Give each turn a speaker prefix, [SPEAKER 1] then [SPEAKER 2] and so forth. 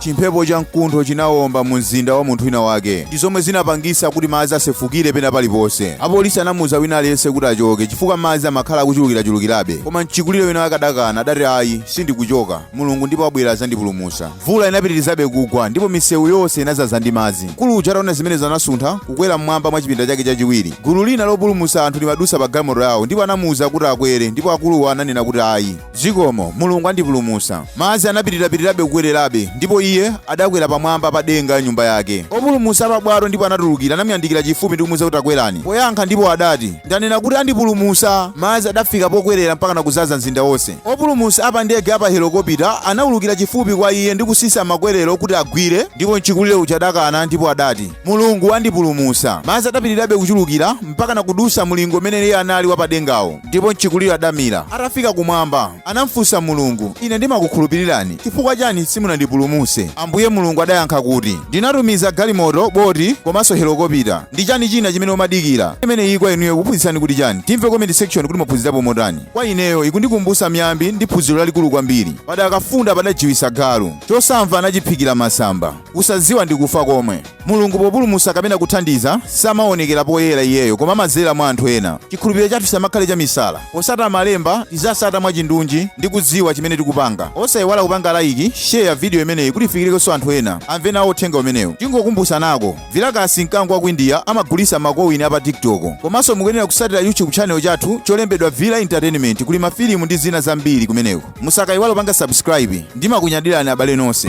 [SPEAKER 1] Chimphepo cha mkuntho chinawomba mu mzinda wa munthu wina wake ndi zomwe zinapangisa kuti madzi asefukire pena paliponse. Apolisi anamuuza wina aliyense kuti achoke chifukwa madzi amakhala akuchulukirachulukirabe. Koma mchikulire wina wake adakana adati ayi sindikuchoka. Mulungu ndipo abwera azandipulumusa. Mvula inapitirizabe kugwa ndipo misewu yonse inazaza ndi madzi. Mkulu uja ataona zimenezo anasuntha kukwera mmwamba mwa chipinda chake chachiwiri. Gulu lina lopulumusa anthu limadusa pa galimoto yawo ndipo anamuuza kuti akwere ndipo akuluwa ananena kuti ayi. Zikomo, Mulungu andipulumutsa. Madzi anapitirapitirabe kukwererabe, ndipo iye adakwera pamwamba pa denga ya nyumba yake. Opulumutsa a pabwato ndipo anatulukira anamuyandikira chifupi ndi kumuuza kuti takwerani. Poyankha ndipo adati, ndanena kuti andipulumutsa. Madzi adafika pokwerera mpakana kudzaza mzinda wonse. Opulumutsa a pa ndege ya pa helokopita anaulukira chifupi kwa iye ndi kutsitsa makwerero kuti agwire, ndipo mchikulire uja adakana ndipo adati, Mulungu andipulumutsa. Madzi adapitirirabe kuchulukira mpakana kudutsa mlingo umene iye anali wa padengawo. Ndipo mchikulire adamira. Atafika kumwamba, anamfunsa Mulungu, Ine ndimakukhulupirirani, chifukwa chani simunandipulumuse? Ambuye Mulungu adayankha kuti, Ndinatumiza galimoto, boti, komanso helokopita. Ndi chani china chimene umadikira? Imene iyi kwa inuyo ikuphunzitsani kuti chani? Timve comment section kuti mwaphunzirapo motani. Kwa ineyo ikundikumbusa miyambi ndi phunziro lalikulu kwambiri. Padakafunda padajiwisa galu. Chosamva anachiphikira masamba. Kusaziwa ndi kufa komwe. Mulungu populumutsa kapena kuthandiza, samaonekela poyela iyeyo koma amadzela mwa anthu ena. Cikhulupililo cathu cisamakhale camisala. Potsata Malemba, tizitsata mwacindunji ndi kudziwa cimene tikupanga. Osaiwala kupanga like, share, vidiyo imeneyi kuti ikafikilenso anthu ena, amve nawo uthenga umenewu. Tingokumbutsanako, Vilakasi mkango wa ku India amagulitsa makowini a pa TikTok. Komanso mukuyenela kutsatila YouTube channel cathu colembedwa Vila Entertainment kuli mafilimu ndi zina zambili kumeneko. Musakaiwale kupanga subscribe. Ndimakunyadilani abale nonse.